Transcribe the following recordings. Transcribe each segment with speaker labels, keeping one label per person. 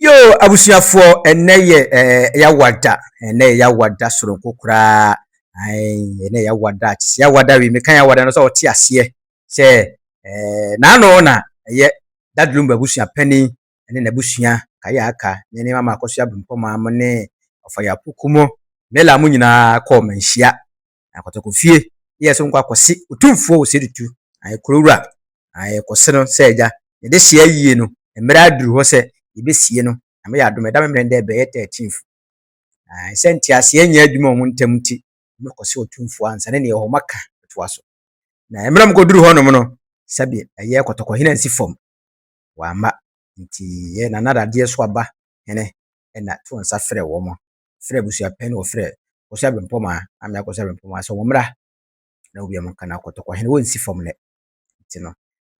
Speaker 1: Yoo abusuafoɔ ɛnɛ yɛ ɛɛ yawada ɛnɛ yɛ yawada soronko koraa ayi ɛnɛ yɛ yawada te sɛ yawada wi meka yawada no sɛ ɔte aseɛ sɛ ɛɛ n'ano na ɛyɛ dadulum abusua panin ɛne n'abusua kayɛ aka ne ne mama akɔso abempɔ maa mo ne ɔfayɛ apoko mo mela mo nyinaa kɔɔ manhyia na kɔtɔkɔ fie yɛ so nkɔ akɔse otumfoɔ wɔ Sedutu, na yɛ kuro wura, na yɛ kɔse no sɛ agya, yɛ dehyeɛ ayie no, mmerɛ aduru hɔ sɛ yɛ bɛsie no, Nyame yɛ adom ɛda me mmerɛ dɛ ɛbɛyɛ thirteenth, na sɛ nteaseɛ nnyɛ adwuma wɔn ntɛm nti, wɔn kɔse otumfoɔ ansa ne neɛ ɛwɔ hɔ ma ka bɛtoa so, na mmerɛ wɔn kɔduru hɔ nom no, sɛbe ɛyɛ kɔtɔkɔ hene ansi fam. wɔamma ntsi yɛ na na dadeɛ so aba hene na to nsa frɛ wɔn frɛ abusua pɛ na wɔfrɛ kɔsua bempɔmaa ame akɔsua bempɔmaa sɛ wɔn mmra na obi a wɔn ka no akɔtɔkɔ hene wɔn nsi fam nɛ nti no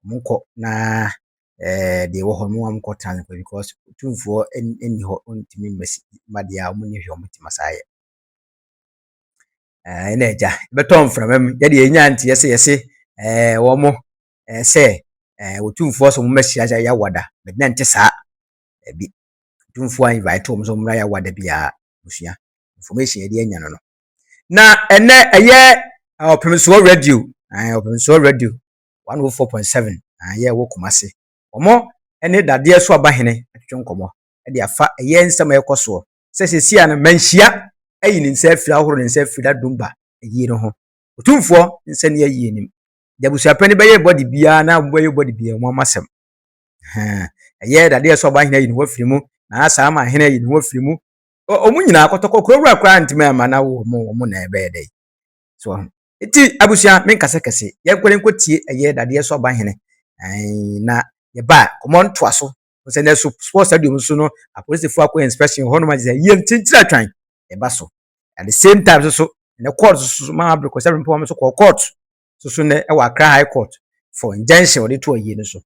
Speaker 1: wɔn nkɔ na ɛɛ deɛ ɛwɔ hɔ no wɔn nkɔ tena nkɔ because tumfoɔ nni hɔ ntumi mmasi ma deɛ a wɔn nyɛ hwɛ wɔn ti ma saa yɛ ɛɛ na agya bɛtɔ mframa mu yɛ deɛ yɛnya nti yɛsɛ yɛsɛ ɛɛ wɔn eh, sɛ eh, wɔtumfoɔ sɛ wɔmmra hyia sɛ yɛawada bɛde na nte saa ɛbi tumfoɔ a invite wɔn sɛ wɔmmra yɛawada biara musua information yɛde anya no no na ɛnɛ ɛyɛ eh, ɔpemsoɔ radio eh, ɔpemsoɔ radio 104.7 ɛyɛ wɔ kɔma se wɔn ne dadeɛ so aba hene atwitwe nkɔmmɔ de afa ɛyɛ nsɛm a ɛkɔ soɔ sɛ sɛsi a no manhyia ayi ne nsa afiri ahoro ne nsa afiri dadumba ayie no ho ɔtumfoɔ nsa ni ayie nim deɛ abusuapɛn no bɛyɛ bɔde biara na wɔbɛyɛ bɔde biara wɔn amasɛm ɛyɛ dadeɛ ɛsɛ ɔba ahene ayi ne ho afiri mu na asa ama ahene ayi ne ho afiri mu wɔn nyinaa kɔtɔkɔ kurawura koraa ntoma ɛma na wɔn wɔn na ɛbɛyɛ dɛ so ɔho eti abusua me nkasa kɛse yɛn kɔrɛ nkɔ tie ɛyɛ dadeɛ ɛsɛ ɔba ahene na yɛba kɔmɔ ntoa so sɛ na so sports stadium so no apolisifo akɔ inspection hɔ nom agye sɛ yɛ nkyinkyiri atwan ɛba so at the same time so so na court so so maa abirikɔ sɛ mpɔn so kɔ court so so na ɛwɔ akra high court for injunction wɔde to ayie no so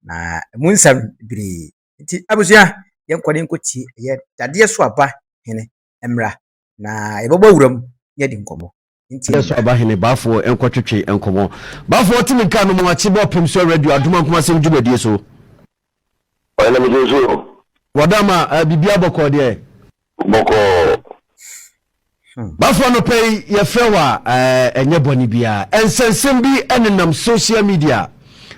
Speaker 1: na ɛmu nsɛm bebree nti abusua yɛn kɔ ne nko tie ɛyɛ dadeɛ so aba hene mmra na yɛbɛbɔ wuram na yɛadi nkɔmmɔ. Nti. So abahene
Speaker 2: Bafo nkɔtwetwe nkɔmmɔ. Bafo ɔte ne kaa no mu ate bɔ pem so radio adom ankomasɛm dwumadie so.
Speaker 3: Ɔyɛ na me gyina so. Wɔda ma uh,
Speaker 2: biribiara bɔkɔɔ deɛ. Bɔkɔɔ.
Speaker 3: Hmm.
Speaker 2: Bafo anɔpɛ yi yɛfrɛ hɔ a ɛnyɛ bɔne biara. Ɛnsɛnsɛm bi ɛnenam social media.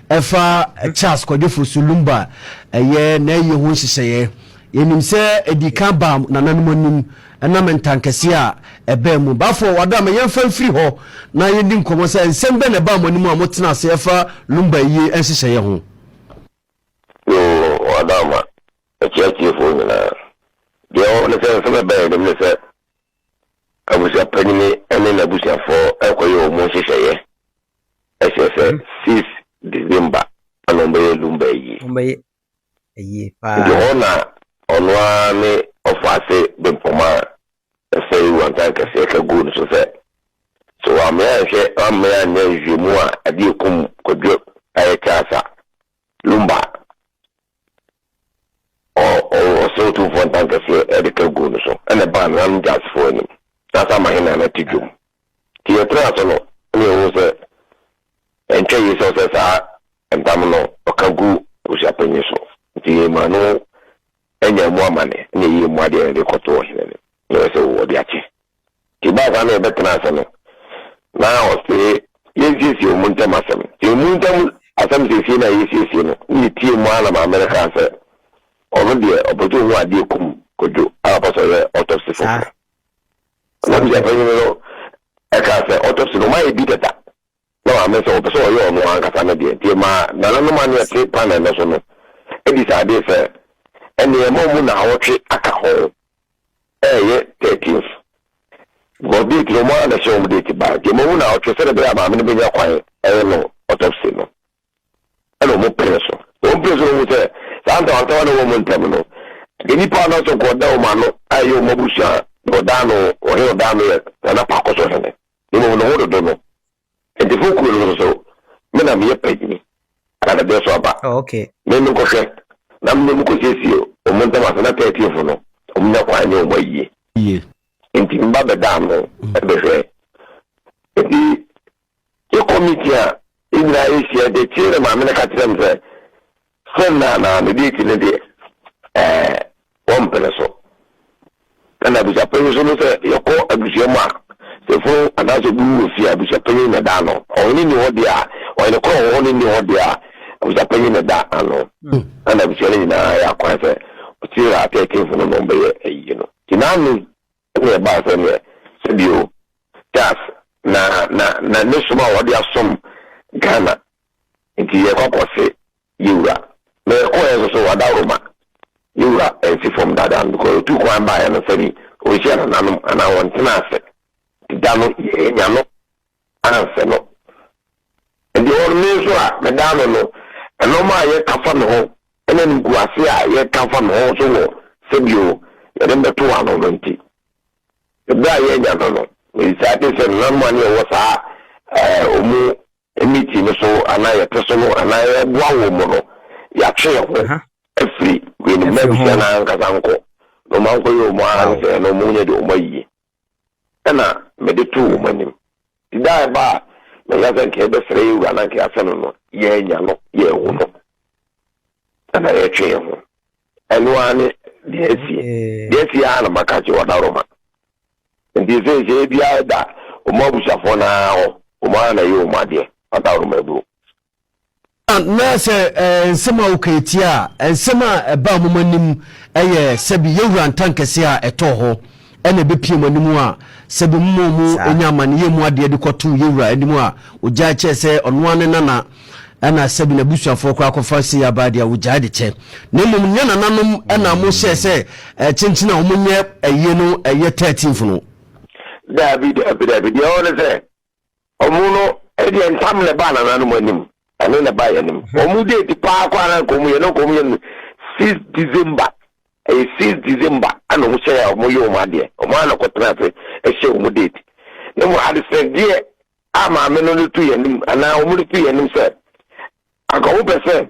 Speaker 2: Ɛfa Charles Kwadwo Fosu Lumba a ɛyɛ n'ayie ho nhyehyɛeɛ. Yɛnim sɛ ɛdii kan baa nananom anim ɛnam ntankɛseɛ a ɛbaa mu. Bafo, Wadama, yɛmfa mfiri hɔ na yɛndi nkɔmmɔ sɛ nsɛm bɛn na ɛbaa mo anim a motenaa ase ɛfa Lumba ayie nhyehyɛeɛ ho? Yoo,
Speaker 3: Wadama, akyia atiefoɔ nyinaa. Deɛ ɛwɔ hɔ ne sɛ nsɛm a ɛbaa yɛn anim ne sɛ Abusuapanyin ne n'abusuafo rekɔyɛ wɔn nhyehyɛeɛ. Ɛkyerɛ sɛ six December na wɔbɛyɛ Lumba ayie. Wɔbɛyɛ
Speaker 1: ayie paa. Nti hɔ na
Speaker 3: ɔno ara ne ɔfaase bempɔm a ɛsɛe wantan kɛseɛ ka guu ne so sɛ, Sɛ wammee anhwɛ, wammee anyɛ nhwehwɛmu a, ɛde akum Kwadwo Ayɛ Charles a, Lumba ɔserew tumfoɔ ntankɛseɛ de ka guu no so na ɛbaa nananom Jazzfoɔ anim. Saa nso ama Henan ate dwom. Nti yɛtraa so no na yɛhuu sɛ ɛntwa yie sɛ ɔsɛ saa ntam no ɔka gu abusuapanyin so. Nti yɛmaa no anya mu amane ne ɛyɛɛ mu adeɛ na de kɔto ɔhene no na ɔyɛ sɛ wɔde akyɛ. Nti ɛbaa saa na yɛbɛtenaa ase no, na ɔse yɛnsiesie wɔn ntam asɛm. Nti wɔn ntam asɛm siesie no a yɛresiesie no, na yɛtiee mu ara na maame no kaa sɛ ɔno deɛ ɔpɛ sɛ ɔhu adeɛ kum Kojo a ɔpɛ sɛ ɔyɛ autopsy foforɔ. Ɛnam sɛ panyin no kaa sɛ autopsy no wɔayɛ bi dada. na wammen sɛ ɔpɛ sɛ ɔyɛ ɔno ankasa ne deɛ, nti ɛmaa nananom a na wɔte panel no so no disaadee sɛ ɛnneɛ ɛmma wɔmmu nnawɔtwe aka ho ɛreyɛ thirteenth, because date no wɔn ara na ɛhyɛ wɔn date baeɛ, nti ɛmma wɔmmu nnawɔtwe sɛdeɛ ɛbɛyɛ a maame no bɛnya kwan ayɛ no autopsy no, ɛna wɔpene so. Wɔpene so no wɔhu sɛ saa ntawantawa no a ɛwɔ wɔn ntam no, deɛ nipa a na ɔsɛ nka ɔda wɔn ano a ɛyɛ wɔn abusua a, deɛ ɔdaa no ɔhene ɔdaa no yɛ Nana Paakɔsɔ Hene. Mmom ne ho dodo no nti fo kuro no so so me na meyɛ panyini ana dadeɛ so aba me me nkɔhwɛ na me ne ɔmo kɔ siesie ɔmo ntam ase na thirteen fo no ɔmo nya kwan nyɛ ɔmo ayie
Speaker 2: nti me ba bɛ
Speaker 3: da ano bɛ hwɛ nti yɛ kɔ meeting a yɛ nyinaa yɛ hyia nti akyire na maame no ka kyerɛ me sɛ Sɛ nna na me date no deɛ ɛɛ wɔmpene so. Ɛna abusuapanyin nso no sɛ yɛkɔ abusua mu a sɛ funu anaasɛ obi wu wɔ fie a abusuapanyin na ɛda ano. Ɔhene nni hɔ deɛ a ɔhene korɔ wɔ hɔ ne nni hɔ deɛ a abusuapanyin na ɛda ano. Ɛna abusua no nyinaa yɛ akwan sɛ ɔkyiri a thirteen funu no wɔbɛyɛ ayie no. Nti n'ano Ɛnna ɛbaa sɛ neɛ sɛdeɛ o Charles na na na ne som a ɔde asom Ghana nti yɛrekɔ akɔse yɛ wura, na yɛkɔeɛ nso so ɔdawuroma yɛ wura ansi fam dada no because ɔtuu kwan baeɛ no sɛdeɛ ɔnhyia nananom anaa ɔntena ase nti da no yɛannya no. ansa no. Ɛnde ɔno, me nso a medaa no no, nnoɔma a yɛka fa ne ho ne animguase a yɛka fa ne ho nso wɔ sɛ bio yɛde no bɛto ano no nti, berɛ a yɛanya no no, mebisaa te sɛ nananom a ne yɛwɔ saa wɔn mmeti no so anaa yɛte so no anaa yɛboa wɔn mu no, yɛatwe yɛn ho afiri weinom na abusua no ara ankasa nkɔ na wɔankɔyɛ wɔn ara ne sɛ ɛno wɔn nyɛ deɛ wɔn ayie. na mede too wɔn anim. Nti da a ɛba a mɛka sɛ nka yɛbɛsrɛ yɛn wura na nka yɛasɛ no no, yɛannya no, yɛanhu no, ɛnna yɛretwe yɛn ho. Ɛno ara ne deɛ asi. Deɛ asi ara na maka akyerɛ Ɔdaroma. Nti seesei biara da wɔn abusuafoɔ no ara hɔ, wɔn ara na ɛyɛ wɔn adeɛ, Ɔdaroma aburo.
Speaker 2: Na sɛ nsɛm a woka yi teɛ a, nsɛm a ɛbaa mo anim yɛ sɛbi yɛn wura ntankɛseɛ a ɛtɔɔ hɔ na ɛbɛpue mo anim a, sɛbi mo ma mo nya amaneyɛ mu adeɛ de kɔto yɛn wura anim a, ɔgyae kyɛɛ sɛ ɔno ara ne nana, ɛna sɛbi n'abusuafoɔ koraa kɔfa sei aba adeɛ a, ɔgyae de kyɛ. Na mmom nyɛ nananom na mohyɛɛ sɛ kyenkyen a wɔnyɛ ayie no yɛ thirteenth no. Daabi,
Speaker 3: daabi, daabi, deɛ ɛwɔ ne sɛ, Ɔmo no deɛ ntam na ɛbaa nananom anim ɛne na ɛbaa yɛn anim. Ɔmo mhm. date paa kɔ ara nkɔm yɛ na nkɔm yɛ no six december ɛyɛ six december ɛna ɔmo hyɛ yɛ ɔmo yɛ ɔmo adeɛ ɔmo ana kɔ tena ase ɛhyɛ ɔmo date ne mu adesrɛdeɛ a maame no no tu yɛn anim anaa ɔmo no tu yɛn anim sɛ anka ɔmo pɛ sɛ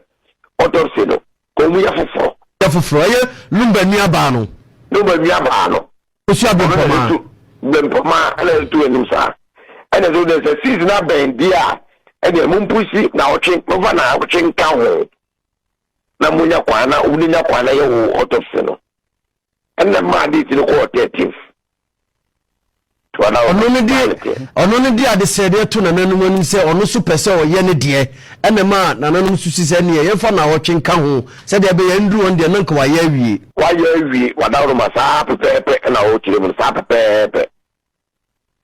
Speaker 3: autopsy no Wɔn mu yɛ foforɔ. Yɛ foforɔ. Ɛyɛ Lumba
Speaker 2: nuabaa no. Lumba nuabaa no.
Speaker 3: Ɔsua bempɔmaa. Ɔno na bempɔmaa ɛna ɛtu anim saa. Ɛna ɛsɛ wodɛ sɛ season abɛn deɛ a ɛdeɛ mo mpusi na ɔtwe mo fa na ɔtwe nka ho na mo nya kwan na wɔn nya kwan na yɛ wo autopsy no. Ɛna maa date no kɔɔ 13th.
Speaker 2: Ɔno no de adesrɛdeɛ to nananom anim sɛ ɔno nso pɛ sɛ ɔyɛ ne deɛ, ɛna ɛma nananom nso si sɛ neɛ yɛmfa nnawɔtwe nka ho sɛdeɛ ɛbɛyɛ ɛnduru wɔn deɛ no anka wayɛ awie. Wayɛ awie, wadaworoma saa
Speaker 3: pɛpɛɛpɛ ɛna ɔrekyerɛ mu no saa pɛpɛɛpɛ.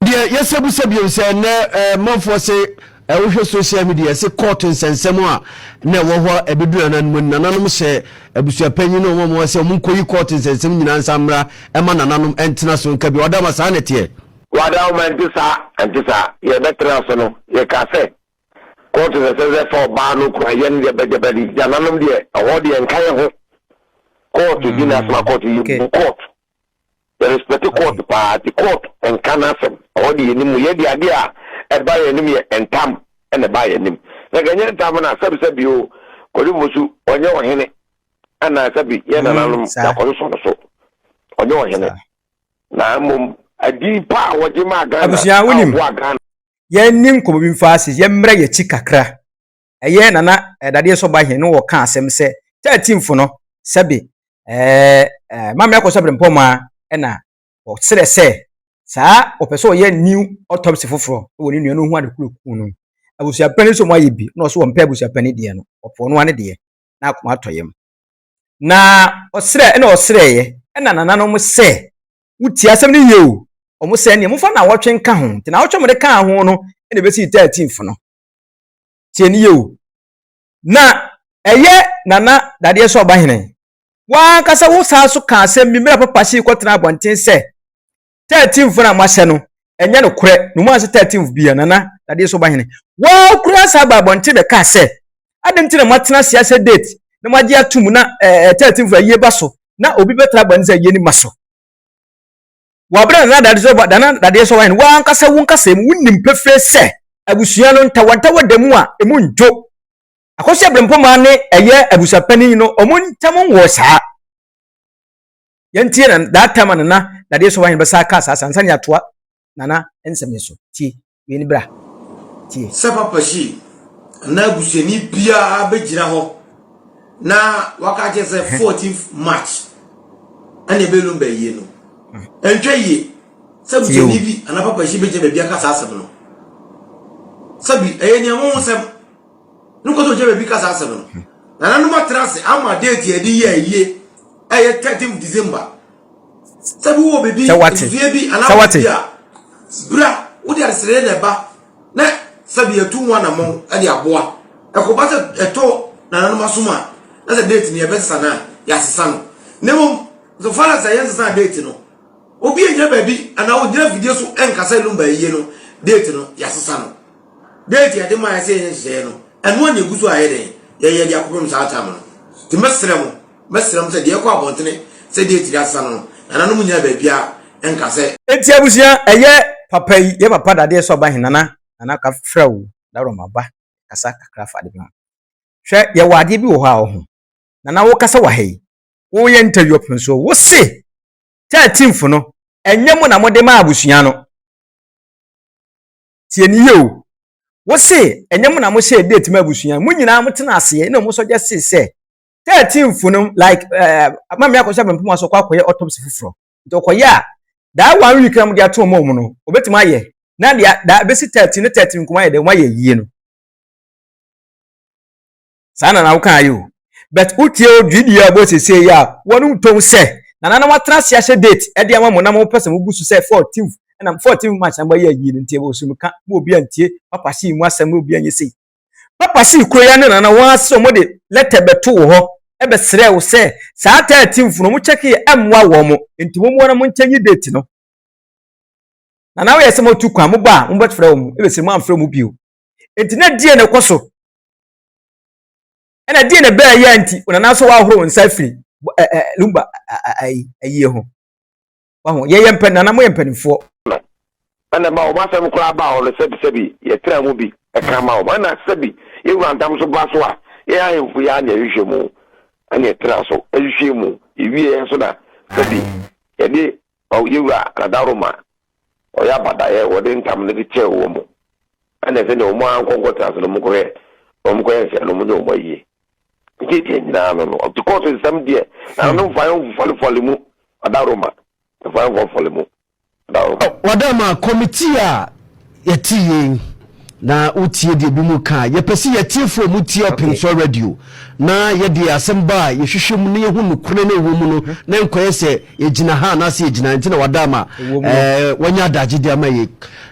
Speaker 2: Deɛ yɛsɛ bisa bio sɛ ɛnnɛ manfoɔ se Ɛ wohwɛ social media yɛse court nsɛnsɛm a na ɛwɔ hɔ ɛbɛduru nananom ani nananom hyɛ abusuapanyin ne wɔn a wɔwɔ sɛ wɔn nkɔyi court nsɛnsɛm nyinaa nsa mmra ɛma nananom ɛntena so nka bi ɔdama saa na ɛteɛ. Ɔdawoma ɛnte
Speaker 3: saa ɛnte saa yɛ bɛtena so no yɛ ka sɛ court nsɛnsɛm sɛ fa ɔbaa no kura yɛ no gyabɛ gyabɛ de nananom deɛ ɛhɔ deɛ nka yɛ ho court gyina asoma court yɛ bu court. Yɛ respect court paa nti court nka n'asɛm. Ɛhɔ de yɛnim mu. Yɛn deɛ adeɛ a ɛba yɛn anim yɛ ntam na ɛba yɛn anim. Na nka ɛnyɛ ntam no a sɛbi sɛbi o Kwadu Fosu ɔnyɛ ɔhene anaa sɛbi yɛn nananom yɛakɔsosɔ no so. Ɔnyɛ ɔhene. Na mmom adin pa a wɔgye maa Ghana a ɔboaa Ghana.
Speaker 1: Yɛnni nkɔmmɔ bi mfa ase, yɛmmrɛ yɛn akyi kakra. ɛyɛ Nana Dadeɛ Sɔba Hene no wɔka asɛm sɛ 13th no sɛbe ɛɛ Maame Akosua Brempɔmaa na ɔserɛ sɛ saa ɔpɛ sɛ ɔyɛ new autopsy foforɔ wɔ ne nua no ho ade kuro kuu no abusuapɛn no sɛ ɔmo ayɛ bi na ɔso ɔmpɛ abusuapɛn no deɛ no ɔpɛ ɔno ano deɛ na akoma atɔ yam na ɔserɛ ɛna ɔserɛeɛ ɛna nananom sɛ wotie asɛm no yie o ɔmo sɛ neɛ mofa na wɔtwe nka ho nti na wɔtwe mo de kaa ho no ɛna ɛbɛsi 13th no Tie no yie o. Na ɛyɛ Nana Dadeɛ so Ɔbahene. W'ankasa wo san so ka asɛm bi mmerɛ Papa Hye kɔtenaa abɔnten sɛ thirteenth no a moahyɛ no ɛnyɛ nokorɛ na ɔmu anhyɛ thirteenth biara. Nana Dadeɛ so Ɔbahene, woaa koraa san baa abɔnten bɛkaa sɛ adɛn nti na moatena ase ahyɛ date na moagye ato mu na ɛɛ thirteenth ayie ba so na obi bɛtra abɔnten sɛ ayie no mma so. wɔ bere a Nana Dadeɛ Nana Dadeɛ Sɔwae no w'ankasa wo nkasa mu wonim pefee sɛ abusua no ntawɔntawɔ da mu a emu ndwo. Akɔsi Abrempoma ne ɛyɛ abusuapanin no wɔn ntam nwɔ saa. Yɛntie na that time a Nana Dadeɛ Sɔwae no bɛsa aka saa saa nsa ne atoa Nana nsɛm yi so tie. Wei ni bra. Tie. Sɛ papa hyi
Speaker 4: anaa abusuani biara bɛgyina hɔ na waka kyerɛ sɛ 14 march ɛna ɛbɛlum bɛyie no ɛntwa yie sɛ abusuani bi anaa papa hyi bɛgyina baabi aka saa asɛm no sɛbi ɛyɛ nea mo ho sɛm no kɔtɔ gyina baabi ka saa asɛm no nananom atra ase ama date yɛde yɛ ayie ɛyɛ 13 december sɛ wate sɛ wate. bra wode adesrɛdeɛ na ɛba na sɛbi yɛtu ho anammɔn de aboa ɛkɔba sɛ ɛtɔ nananom asom a na sɛ date no yɛbɛsesa no a yɛasesa no na mmom so far as ɛyɛ nsesa date no obi ɛnyɛ baabi anaa ɔgyina fidie so ɛnkasa ɛlum baayie no date no yɛasesa no date yɛde ma yɛ sɛ yɛn nhyehyɛeɛ no ɛno a na ɛgu so a yɛ dɛn yɛyɛ de akɔpem saa tam no nti mɛsrɛ mo Mɛsrɛ mo sɛ deɛ ɛkɔ abɔntene sɛ date de asesa no no, nananom nyinaa baabiara nka sɛ. Enti abusua
Speaker 1: ɛyɛ papa yi yɛ papa dadeɛ sɛ ɔba he nana nana ka frɛ wo dawuro maba kasa kakra fa ade bi ho hwɛ yɛ wɔ adeɛ bi wɔ hɔ a ɔho nana wo kasa wɔ ha yi wo yɛ interview ɔpene so wo se thirteenth no ɛnyɛ mo na mo de ma abusua no tie ne yie o wo se ɛnyɛ mo na mo hyɛ date ma abusua mo nyinaa mo tena aseɛ na ɔmo sɔ gya se sɛ 13 fo no like ɛɛ eh, maame akɔhyɛ abɛnpɔn aso kɔ akɔyɛ autopsy foforɔ nti ɔkɔyɛ a daa one week na mo de ato wɔn wɔn no obetumi ayɛ na deɛ daa ebesi 13 ne 13 nkɔmɔ ayɛ dɛ wɔn ayɛ yie no saa na na awokan ayɛ o but wotie o dwi deɛ ɔbɔ sese yi a wɔn ntɔn sɛ nana na watena ase ahyɛ date ɛde ama mo na mo pɛ sɛ mo gu so sɛ 14 ɛna 14 march na mo ayɛ yie no nti ɛbɔ so mo ka mo obi antie papa si mu asɛm mo obi anyɛ sei Papa sii kuro yi ano na na wɔn ara sɛ wɔde lɛtɛ bɛto wo hɔ bɛsrɛɛ wo sɛ saa tɛɛtinfo no wɔkyɛkeeɛ ammoa wɔn nti wɔn ara monkyɛ nyi date no. Na na woyɛ sɛ motu kwan mobɔ a mobɛfrɛ wɔn ɛbɛsɛ mu amfrɛ mu bio. Nti na die na ɛkɔ so. Ɛna die na ɛbɛɛ yɛ nti wɔn nana so wɔahoro wɔn nsa afiri lumba ayie ho. wahu yɛyɛ mpɛ nana moyɛ mpanimfoɔ ɛna
Speaker 3: ba wɔn asɛm koraa ba hɔ no sɛbi sɛbi yɛtena mu bi ɛka ma wɔn ɛna sɛbi yɛwura ntam so ba so a yɛn ahemfo yɛ anya hwehwɛ mu ɛna yɛtena so ɛhwehwɛ mu ewie yɛn so na sɛbi yɛde yɛwura nadaroma ɔyɛ abadaeɛ wɔde ntam no de kyɛɛ wɔn mu ɛna sɛ deɛ wɔn ankɔnkɔ tena so no wɔn kɔyɛ wɔn kɔyɛ nsɛn no wɔn ne wɔn ayie ɛdeɛ deɛ nyinaa no no ɔte kɔɔso nsɛm deɛ na no mfa yɛn mfɔlefɔle mu ɔda roma mfa yɛn mfɔlefɔle mu ɔda
Speaker 2: roma. ɔda ma kɔmitii a yɛte yei na wotie deɛ bi mu ka yɛpɛ sɛ yɛtiefoɔ mu tie open source radio na yɛde asɛm ba a yɛhwehwɛ mu na yɛhu nokorɛ na ɛwɔ mu no na nkɔyɛ sɛ yɛgyina ha anaasɛ yɛgyina nti na wada ma wanya adagye de ama yei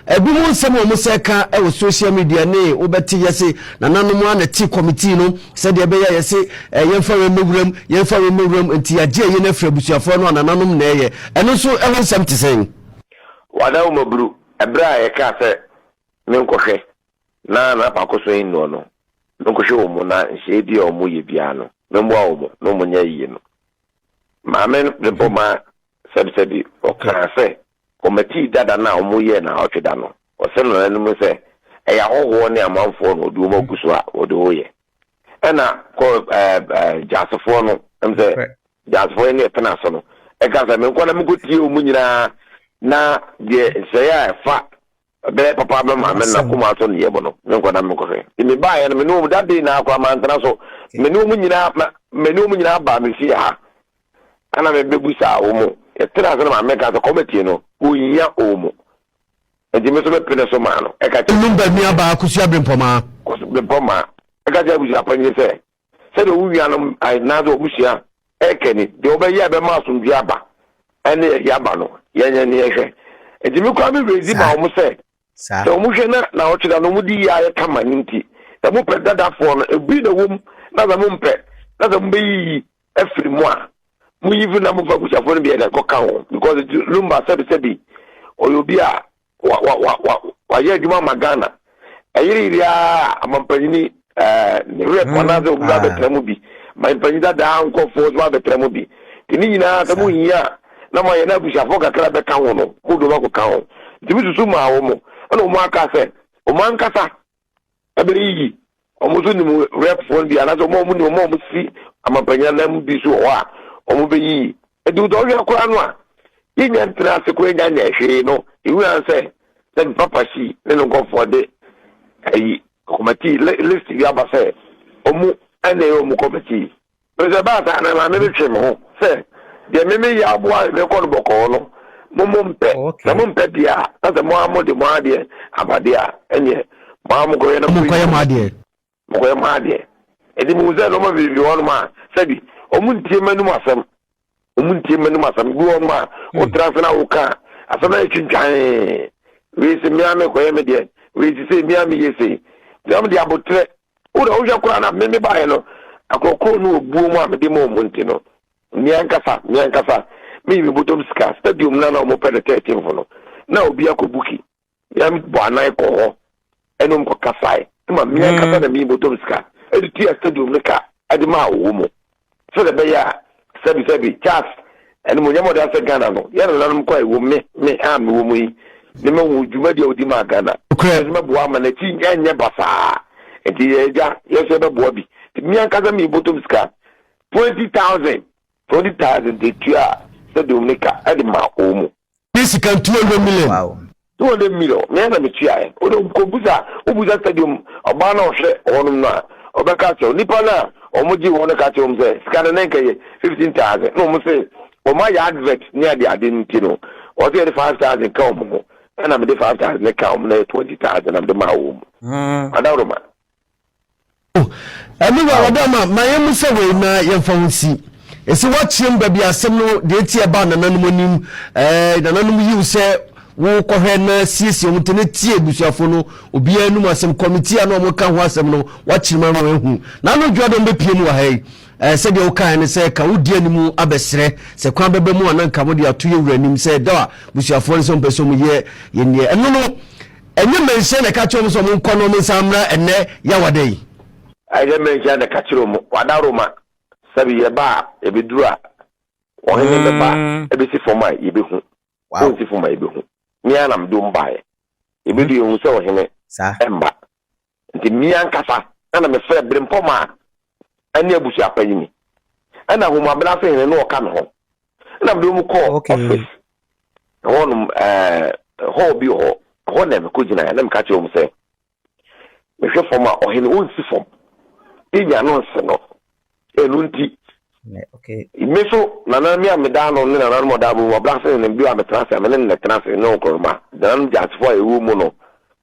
Speaker 2: Ebinom nsɛm a wɔsɛe ka wɔ social media ne wobɛte yɛse nananom ara na te kɔmitii no sɛdeɛ ɛbɛyɛ a yɛse yɛmfa wei mmɔ wuram, yɛmfa wei mmɔ wuram nti yɛagye ayie no afiri abusuafoɔ no a nananom na ɛyɛ. Ɛno nso ho nsɛm te sɛn? Wada wo
Speaker 3: mmaburu ɛberɛ a yɛkaa sɛ menkɔhwɛ na n'apaako so nnuɔ no, menkɔhwɛ wɔn mu na nhyehyɛeɛ biara a wɔyɛ biara no memmoa wɔn na wɔnyɛ ayie no. Maame no rebɔ maa sɛbisɛbi ɔkaa sɛ Kɔmɛtii dada no a wɔyɛɛ no awɔtwe da no, ɔsɛ nananom sɛ ɛyɛ ahɔhoɔ ne amanfoɔ na wɔde wɔn agu so a wɔde wɔyɛ. Ɛna kɔ ɛɛ ɛɛ Gyasefoɔ no, ɛm sɛ Gyasefoɔ yɛ ne ɛpena so no, ɛka sɛ menkɔ na menkɔtie wɔn nyinaa na deɛ nsɛeɛ a ɛfa Ɛbɛyɛ papa ama me maame na koma so nneyɛe mu no, me nkɔ na menkɔhwɛ. Nti mebaeɛ no, me ne wɔn that day naa koraa mantena so. Me ne wɔn nyinaa ma me ne wɔn nyinaa baa me fie ha. Ɛna mebɛbusaa wɔn. Yɛtenaa ase na maame ka sɛ committee no, wɔnhia wɔn. Nti me nso mepene so maa no. Ɛka kyerɛ. Num ba nuabaa Kosua
Speaker 2: Bempɔmaa. Kosua Bempɔmaa.
Speaker 3: Ɛka kyerɛ abusuapanyin sɛ sɛdeɛ wo nuanom anaasɛ w'abusua ɛrekɛ ni, deɛ wɔbɛyɛ a ɛbɛma asomdwoeɛ aba ɛne ɛyɛ aba no, yɛnyɛ ne yɛhwɛ. Nti me koraa me werɛ di ma wɔn sɛ, sɛ wɔn hwɛ na na wɔtwe da no wɔn di yie ayɛ kama no nti, sɛ mo pɛ dadafoɔ no, ebi na wɔm na sɛ mo mpɛ na sɛ mo bɛyiyi afiri mu a, mo yi firi na mo fa abusuafoɔ no bi ɛna ɛkɔ ka wɔn because lumba sɛbi sɛbi ɔyɛ obi a wa wa wa wa wayɛ adwuma ma ghana ɛyereyere a amampanyini ne rep anaasɛ obi ba bɛtena mu bi ma mpanyin dadaa nkɔfoɔ so abɛtena mu bi te ne nyinaa sɛ mo hia a na mo ayɛ na abusuafoɔ kakra bɛka ho no mo dɔm akɔka ho nti mo susu maa wɔn ɛna wɔn aka sɛ wɔn ankasa ɛbɛyiyi wɔn so nim rɛpfoɔ no bi anaasɛ wɔn a wɔn nim wɔn a wɔn si amampanya nan mu bi so wɔ hɔ a wɔn bɛyiyi ɛdi wotɔ ɔhwɛ koraa no a yɛn nya ntena ase koraa nya nya hwee no ehu an sɛ sɛ ne papa si ne ne nkɔfoɔ de ayi kɔmɛti list bi aba sɛ wɔn ɛna ɛyɛ wɔn kɔmɛti Sɛ ɛbaa saa a, na Maame no twee me ho sɛ, Deɛ me me yɛ aboa a merekɔ no bɔkɔɔ no, mo mo mpɛ. Sɛ mo mpɛ deɛ a, na sɛ mo ara mode mo adeɛ aba deɛ a, ɛnneɛ mo ara monkɔyɛ na monkɔyi mo ho. Monkɔyɛ
Speaker 2: mo
Speaker 3: adeɛ. Enti mehuu sɛ nnoɔma bebree bi wɔ hɔnom a, sɛbi, wɔntie m'anom asɛm. wɔn ntie mma nom asɛm bi wɔn ma hmm. wotra ase na woka asɛm na yɛtwintwan wei se mmea mekɔyɛ me deɛ wei se sɛ mmea meyɛ sei na mede abotrɛ wona wohwɛ koraa na meme baeɛ no akorɔkorɔ no ɔbuo mu a mede ma ɔmu nti no meankasa meankasa meyi me bɔtɔm sika stadium no na wɔpɛ no 13 fo no na obi akɔ buki na bɔ anan kɔ hɔ ɛna ɔmo kɔ kasae ɛma mmea mm. nkasa na mmea bɔtɔm sika ɛde tua stadium no ka ɛde maa ɔwɔ mu sɛdeɛ ɛbɛyɛ a sɛbi sɛbi charles ɛne mo nyɛma ɔde asɛ ghana no yɛ na nanom kɔ ɛwɔ me me a me wɔ mu yi ne ma hu dwumadi a ɔdi maa ghana ɛsɛ mɛboa ama n'akyi ɛnyɛ basaa nti yɛ agya yɛ sɛ ɛbɛboa bi mmea nkasa mmea bɔtɔm sika twenty thousand twenty thousand de tua stadium no ka ɛde maa ɔwɔ mu. ne sika ntua
Speaker 2: hundred million. Wow. Two hundred
Speaker 1: million
Speaker 3: mìíràn na mìtua yɛ o de kò busa o busa stadium ɔbaa na ɔhwɛ hɔnom no a ɔbɛka akyerɛ wo nipa no a wɔn gye wɔn no ka kyerɛ wɔn sɛ sika no na nka yɛ fifteen thousand na wɔn se wɔn ayɛ advert ne ade ade no ti no wɔsɛ yɛde five thousand ka wɔn ho ɛna mede five thousand ne ka wɔn na yɛ twenty thousand na mede maa wɔn mu. Adaworoma. Oh,
Speaker 2: ɛne wɔ awɔde ama ma yɛn mu sɛ wei na yɛmfa ho nsi. Ɛsɛ woakyeam baabi asɛm no deɛ ɛti ɛbaa nananom anim. Ɛɛ, nananom yiw sɛ wokɔhwɛ na siesie wɔn ti na tie abusuafo no obiara anum asɛm kɔmiti a na wɔn ka ho asɛm no wakyerem ano ehu na ano dwa dɔm bepie mu wɔ ha yi ɛɛ sɛdeɛ wokae ne sɛ ka wodi anim abɛsrɛ sɛ kwan bɛbɛ mu a na nka mo de ato yɛ wura anim sɛ da a busuafoɔ no sɛ wɔn pɛ sɛ wɔn yɛ yɛn deɛ ɛno no Ɛnyɛ mmanhyia na ɛka kyerɛɛ wɔn sɛ wɔnkɔ na wɔnsan mmra ɛnnɛ Yawada yi? Ɛnyɛ mmanhyia
Speaker 3: na ɛka kyerɛɛ wɔn, Wada Roma, sɛbe yɛba a, yɛbɛduru a, ɔhene bɛba abɛsi fam a, yɛbɛhu. Ɔrensi fam a, yɛbɛhu. Me ara na mede wɔn baeɛ. Yɛbɛdu yɛahu sɛ ɔhene mma. Nti me ankasa na mefrɛ Brempɔm a ɛne abusua pa yi ni. Ɛna Homabena ase hene ne ɔka me ho. Ɛna mede wɔn kɔɔ office. Ɛhɔ nom ɛɛ hall bi wɔ hɔ. Ɛhɔ na mekɔ gyinaeɛ na meka kyerɛ wɔn sɛ mehwɛ fam a ɔhene ɔnsi fam. Penya no nse no. Ɛno nti
Speaker 1: me so
Speaker 3: nana me a meda ano ne nananom a ɔda abom abena ase hene bi a metena ase a me ne no na ɛtena ase ne nkorɔma. Nananom gyaakyefoɔ a ɛwɔ mu no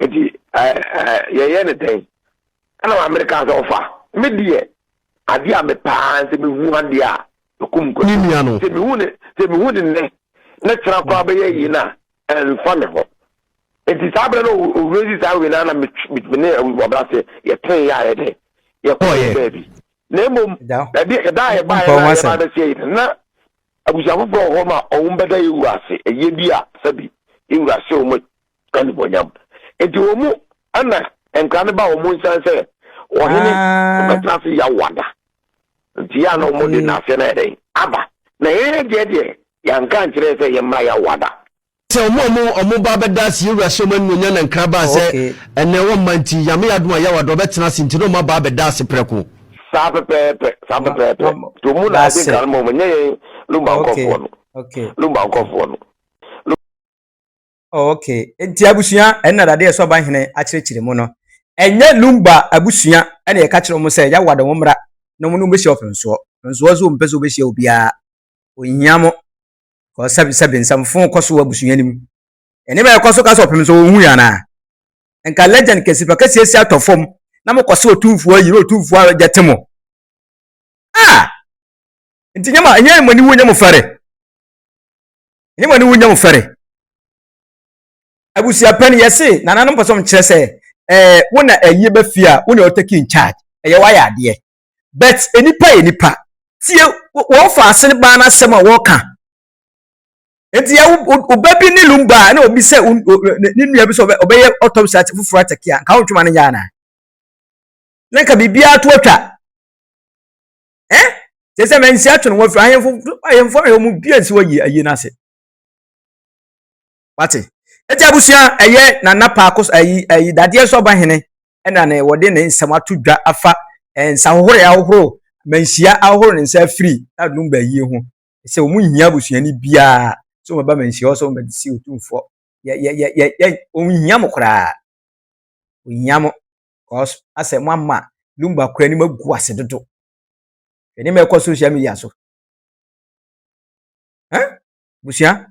Speaker 3: nti yɛyɛ ne dɛn ɛna maame no kaa sɛ ɔfa me deɛ adeɛ a mepaa sɛ mehu adeɛ a mekum nkwa sɛ mehu ne
Speaker 2: sɛ mehu
Speaker 3: ne nnɛ na kyerɛ koraa bɛyɛ yi no a ɛmfa me ho nti saa berɛ no owura si saa wei no na mene ɔbra sɛ yɛtee yɛ a yɛdɛ yɛkɔyɛ baabi na mmom ɛda a yɛbaeɛ no a yɛba bɛsɛ yi no na abusua foforɔ wɔ hɔ ma ɔwom bɛda yɛwu ase ɛyɛ bi a sɛbi yɛwura sɛ ɔma animuonyam. Enti wɔn mu na nkra no ba wɔn nsa sɛ ɔhene ah. bɛtena ase yawada. Nti yɛ na wɔn de n'aseɛ no ayɛ dɛn aba. Na yɛn deɛ deɛ yɛnka nkyerɛ sɛ yɛmmra yawada. Sɛ wɔn a
Speaker 2: wɔn wɔn ba bɛda ase yɛwura hyɛ wɔn animuonyam na nkra baa sɛ ɛnɛ wɔn mma nti yame yadum a yawada ɔbɛtena ase nti na wɔn aba abɛda ase prɛko. Saa pɛpɛɛpɛ
Speaker 3: saa pɛpɛɛpɛ to mu na adi nkra no ma wɔn nyɛ yɛn lumba nkɔfoɔ no lumba nkɔfoɔ
Speaker 1: no. Okay, nti abusua ɛna dade ɛsɔ ɔban hene akyerɛkyerɛ mu no. Ɛnyɛ Lumba abusua ɛna yɛka kyerɛ wɔn sɛ Yawa de wɔn mmra na wɔn ne wɔn bɛhyia ɔpɛnsoɔ. Ɔpɛnsoɔ nso ɔmpɛ sɛ ɔbɛhyia obiara. Ɔnhia mo. Kɔ sɛbi sɛbi nsɛmfo kɔ so wɔ abusua no mu. Ɛne ma yɛkɔ so ka sɛ ɔpɛnsoɔ ɔnhu yɛ anaa? Nka legend kɛse fa kɛseɛ si atɔ fam na mokɔ sɛ ɔtumfoɔ ayi na ɔtumfoɔ agya te mo. Ah! Nti nyɛ mo, nyɛ mo aniwuo nyɛ mo fɛre. ne wɔne wo nya wo fɛre abusua pɛn yɛse nananom pɛ sɛ ɔmkyerɛ sɛ ɛɛ wo na ɛyɛ bɛ fie a wo na ɔtake in charge ɛyɛ wayɛ adeɛ but nipa yɛ nipa tie wɔn fa ase no baa n'asɛm a wɔka nti yɛ ɔba bi ne lumba na obi sɛ ne nua bi sɛ ɔbɛyɛ autopsy ate foforɔ atake a nka wo ntwoma no nyɛ anaa na nka biribiara to atwa ɛ te sɛ mansi atwene wɔ firi ahemfo ahemfo a wɔn dua nsi wɔ yie ayie no ase wate ɛti abusua ɛyɛ nana paako ɛyi ɛyi dadeɛ so ɔba hene ɛna ne wɔde ne nsɛm ato dwa afa nsa ahohoro ahohoro manhyia ahohoro ne nsa afiri adum bɛyie ho sɛ wɔn nyia abusua ni biara sɛ wɔn ba manhyia hɔ sɛ wɔn bɛde si otumfoɔ yɛ yɛ yɛ yɛ wɔn nyia mo koraa wɔn nyia mo cause asɛ mo ama lumba kura ni mo agu ase dodo hwɛ ne ma ɛkɔ social media so eh busua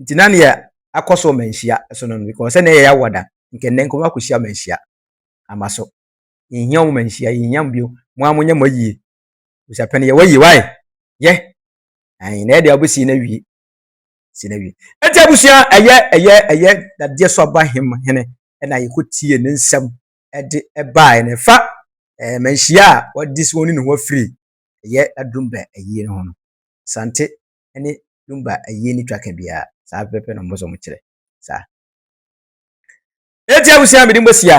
Speaker 1: nti na neɛ akɔ so ma nhyia so no because sɛ na ɛyɛ awɔ da nkɛ nnɛ nkɔmɔ akɔ hyia ma nhyia ama so yɛnhia wɔn ma nhyia yɛnhia mo bio mo a mo nyɛ mo ayie busua pɛn yɛ wɔ ayie wae yɛ ayi na ɛde abɛsi na wie si na wie ɛti abusua ɛyɛ ɛyɛ ɛyɛ dadeɛ so aba hem hene ɛna yɛkɔ tie ne nsɛm ɛde ɛbaa ɛna ɛfa ɛɛ manhyia a wɔde si wɔn ne ne ho afiri ɛyɛ adumba ɛyie ne ho no sante ɛne dumba ɛyie ne twaka biara saa pɛpɛ na ɔmo sɛ ɔmo kyerɛ saa ɛti abusua mede mo asia